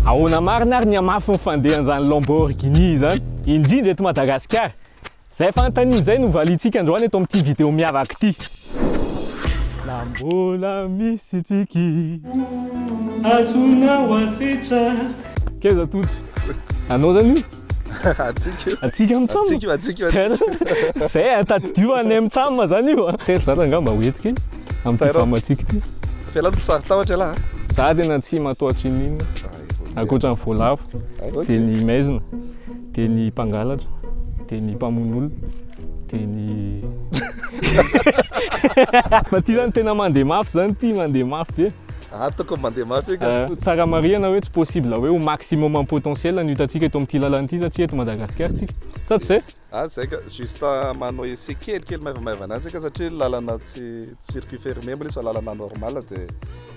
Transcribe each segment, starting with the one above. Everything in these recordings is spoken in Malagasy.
Ahoana marina ary ny hamafy ny fandehan'izany Lamborghini izany, indrindra eto Madagasikara? Izay fanontaniana izay no valiantsika androany eto amin'ity video miavaka ity. Na mbola misy tsiky azonao asetra. Keza Tojo, anao zany io? Atsika io. Atsika mitsam. Atsika io, atsika io. Tena. Zay atadidio any am tsam zany io. Tena zany angamba ho entiko am ty fam atsika ty. Fela tsy sary tahotra ialahy. Za tena tsy matoatry inin. Akoatra ny voalavo. Dia ny maizina. Dia ny mpangalatra. Dia ny mpamono olona. Dia ny Fa ty zany tena mandeha mafy zany ty mandeha mafy be. Ah toko mandeha mafy eka. Tsara marihana hoe tsy possible hoe ho maximum am potentiel ny hitantsika eto amin'ity lalana ity satria eto Madagascar tsika. Sa tsy zay? Ah zay ka, juste manao essai kely kely maivamaivana any tsika satria lalana tsy circuit fermé mbola izy fa lalana normal dia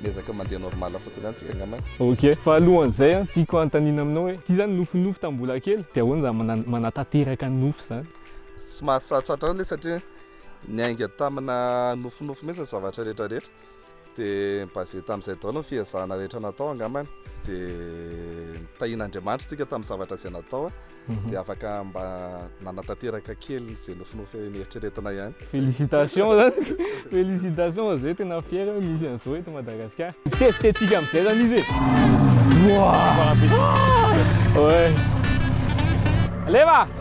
miezaka mandeha normal fotsiny any tsika angamba. Ok, fa alohan'izay an, tiako hanontaniana aminao hoe ity zany nofinofy tamin'ny mbola kely dia ahoana zany mana- manatanteraka ny nofy zany? Tsy mahasahy tratra an'le satria niainga tamina nofinofy mihitsy ny zavatra rehetra rehetra. Dia basé tamin'izay daholo ny fihezahana rehetra natao angambany. Dia nitahiana Andriamanitra isika tamin'ny zavatra izay natao mhm. dia afaka mba nanatanteraka kely izay nofinofy nieritreretina ihany. Félicitations zany. Félicitations zay tena fier misy an'izao eto Madagasikara. Testettsika amin'izay zany izy. Wow! Ouais. Leva!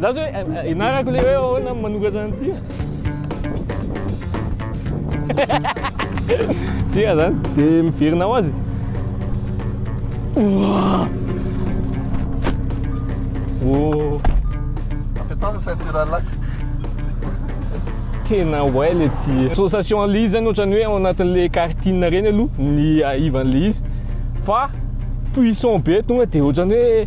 Zaza hoe ianarako le hoe ahoana manoratra an'ity a. Tsia zany, de miverina ho azy. Ouah! Oh! Apetao ny ceinture à lac. Tena way le ty. Association an'le izy zany ohatran'ny hoe ao anatin'le karting reny aloha ny ivan'le izy fa puissant be tonga de ohatran'ny hoe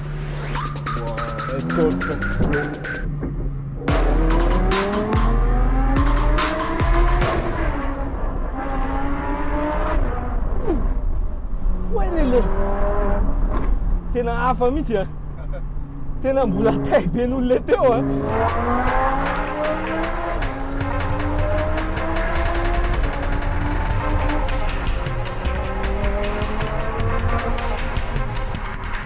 Tena hafa mihitsy a. Tena mbola tay be noho le teo a.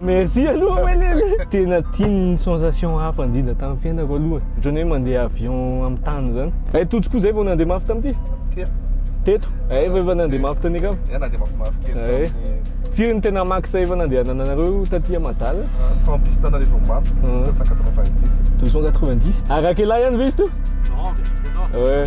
Merci aloha Welele. Tena tiany ny sensation hafa indrindra tamin'ny fiainako aloha. Ohatran'ny hoe mandeha avion amin'ny tany izany. Hay Tojo koa izay vao nandeha mafy tamin'ity. Teto. Teto. Hay vao efa nandeha mafy tany akama. Hay nandeha mafy mafy kely tamin'ny. Firy ny tena max efa nandehananareo taty Madal? Tao amin'ny piste anareo vao mafy. 290. 290. Arakelay any ve izy teo? Non, vers le nord. Ouais.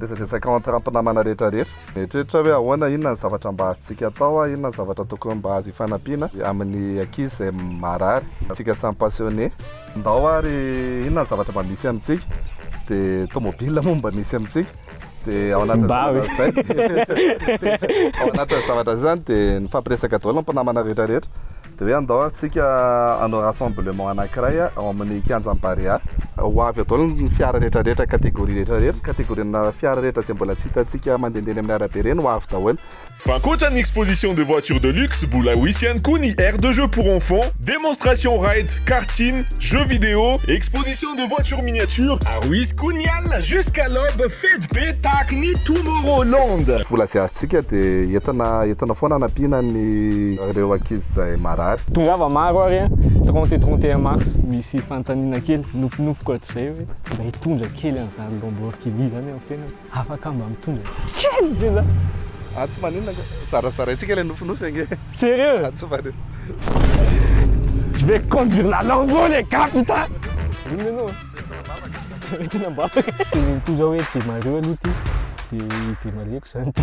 Resadresaka entre mpinamana rehetra rehetra. Mieritreritra hoe ahoana, inona ny zavatra mba azontsika atao, inona ny zavatra tokony mba azo ifanampiana amin'ny ankizy izay marary. Antsika samy passionné. Ndao ary inona ny zavatra mba misy amintsika, dia tomobile moa mba misy amintsika, dia ao anatin'ny zavatra izay, ao anatin'ny zavatra izay izany dia nifampiresaka daholo ny mpinamana rehetra rehetra. Dia hoe andao ary tsika hanao rassemblement anankiray ao amin'ny kianjan'ny Barea. Ho avy eto daholo ny fiara rehetra rehetra, catégorie rehetra rehetra, catégorie-na fiara rehetra izay mbola tsy hitantsika mandehandeha eny amin'ny arabe ireny ho avy daholo. Fa ankoatra ny exposition de voitures de luxe, mbola ho hisy ihany koa ny aire de jeux pour enfants, démonstration ride, karting, jeux vidéo, exposition de voitures miniatures, ary ho hisy koa ny alina jusqu'à l'aube fety be tahaka ny Tomorrowland. Vola izay azontsika dia entina entina foana hanampiana ny reo ankizy zay marary. Tongava maro ary an, trente et trente et un mars misy fanontaniana kely nofinofiko hatrizay hoe mba hitondra kely an'izany Lamborghini zany amin'ny fiainako, afaka mba mitondra kely ve za? Ah tsy maninona nga, zarazaraintsika ilay nofinofy ange. Serieux? Ah tsy maninona. Je vais conduire la Lambo les gars putain! Inona ianao an? Tena ambavaka. Teneno koa zao hoe demarrer aloha ity, dia demarrer-ko zany ity.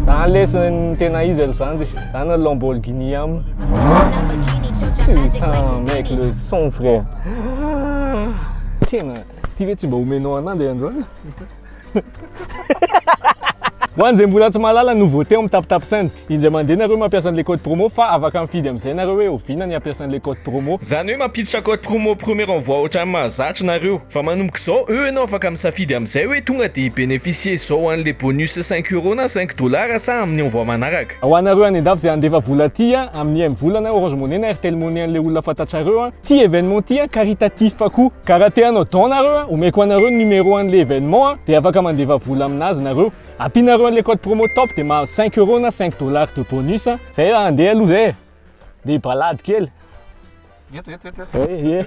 Zany lesy ny tena izy alo zany zany Lamborghini am putain mec le son frère tena ty ve tsy mba omenao ananjy androany Ho an'izay mbola tsy mahalala no vao te amin'ny tap tap send, indray mandeha nareo mampiasa an'ilay code promo fa afaka mifidy amin'izay nareo hoe oviana ny hampiasa an'ilay code promo. Zany hoe mampiditra code promo premier envoi otrany mahazatra nareo. Fa manomboka izao eo ianao afaka misafidy amin'izay hoe tonga dia hi-beneficier izao an'ilay bonus cinq euros na cinq dollars sa amin'ny envoi manaraka. Ho anareo any an-dafy izay handefa vola aty amin'ny im-volana, orange money na airtel money an'ilay olona fantatrareo, Ty événement ty a caritatif koa ka raha te hanao don nareo a omeko anareo ny numéro anle événement a de afaka mandeva vola aminazy nareo ampinareo anle code promo top de mahazo cinq euros na cinq dollars de bonus a. Zay raha andeha aloha zay e. Andeha hibalady kely. Eto eto eto eto. Ehe.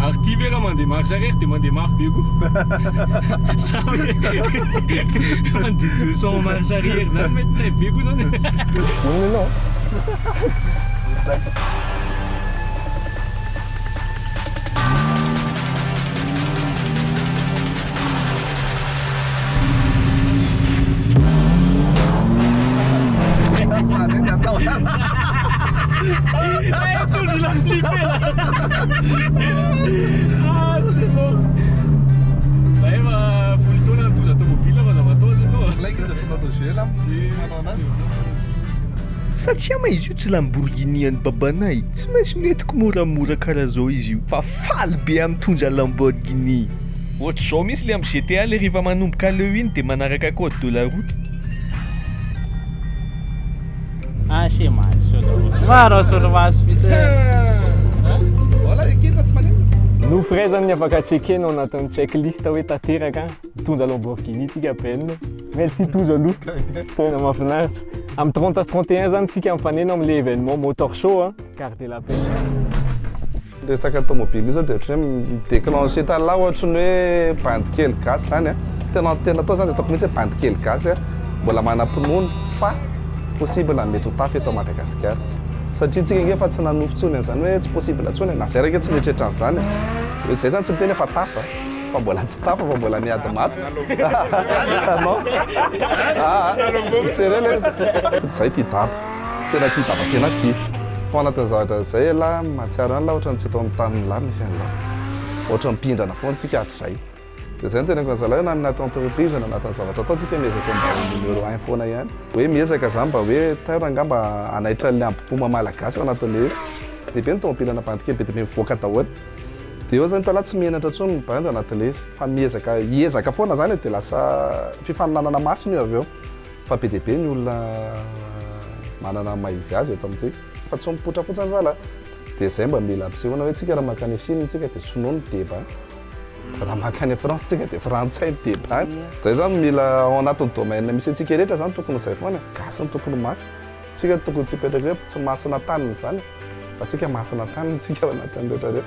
Ary ty ve raha mandeha marche arrière dia mandeha mafy be koa? Sa hoe mandeha deux cents marche arrière zany mety tay be koa zany e? Satria ma izy io tsy Lamborghini an'i babanay, tsy maintsy nentiko moramora karaha zao izy io fa faly be amin-tondra Lamborghini. Ohatr'izao mintsy le am GTA le rehefa manomboka aleo iny de manaraka code de la route. Ah se mahazo sao daholo. Maro aho sao mahazo vitsy. Voilà ekena fa tsy maneno. No firaizan'ny afaka checker no anatin'ny checklist hoe tanteraka mitondra Lamborghini tsika Ben. Merci Tojo aloha. Tena mahafinaritra. Am 30 sy 31 zany tsika mifanena amle événement motor show a. Gardez la pêche. Ny resaka tomobile io zao dia ohatran'ny hoe mi-declencher tany lahy ohatran'ny hoe bandy kely gasy zany a. Tena tena atao zany dia ataoko mihitsy hoe bandy kely gasy a, mbola manam-pinoana fa possible mety ho tafy eto Madagasikara. Satria tsika nge efa tsy nanofy intsony an'izany hoe tsy possible intsony e, na zay ary nge tsy nieritreritra an'izany e. Hoe zay zany tsy miteny hoe efa tafy a, fa mbola tsy tafy fa mbola miady mafy. Anao? Aa! Serieux lay izy. Zay ty dada. Tena tia Baba tena tia. Fanatany zavatra izay elah mahatsiaro an'lah ohatran'ny tsy eto amin'ny tany milah misy an'lah. Ohatran'ny mpindrana foana tsika hatrizay. Dia izay no teneniko an'zalah hoe na anaty entreprise na anatin'ny zavatra atao tsika miezaka mba ho numéro un foana ihany. Hoe miezaka zany mba hoe tairo angaha mba hanaitra an'ilay ambom-poma malagasy ao anatin'ilay izy. Dia be ny tomobilana bandy kely be dia be mivoaka daholo. Dia eo zany hitalahy tsy menatra intsony ny bandy anatin'ilay izy fa miezaka hiezaka foana zany e dia lasa fifaninanana masina io avy eo. Fa be dia be ny olona manana ny maha izy azy eto amintsika. Fa tsy mipoitra fotsiny ry zala a! Dia izay mba mila ampisehoana hoe tsika raha mankany à Chine tsika dia sinoa ny deba, raha mankany à France tsika dia frantsay ny deba. Izay izany mila ao anatin'ny domaine misy antsika rehetra izany tokony ho izay foana e! Gasy no tokony ho mafy. Tsika tokony tsy hipetraka hoe tsy masina taniny izany e! Fa tsika masina taniny tsika ao anatin'ny rehetra rehetra.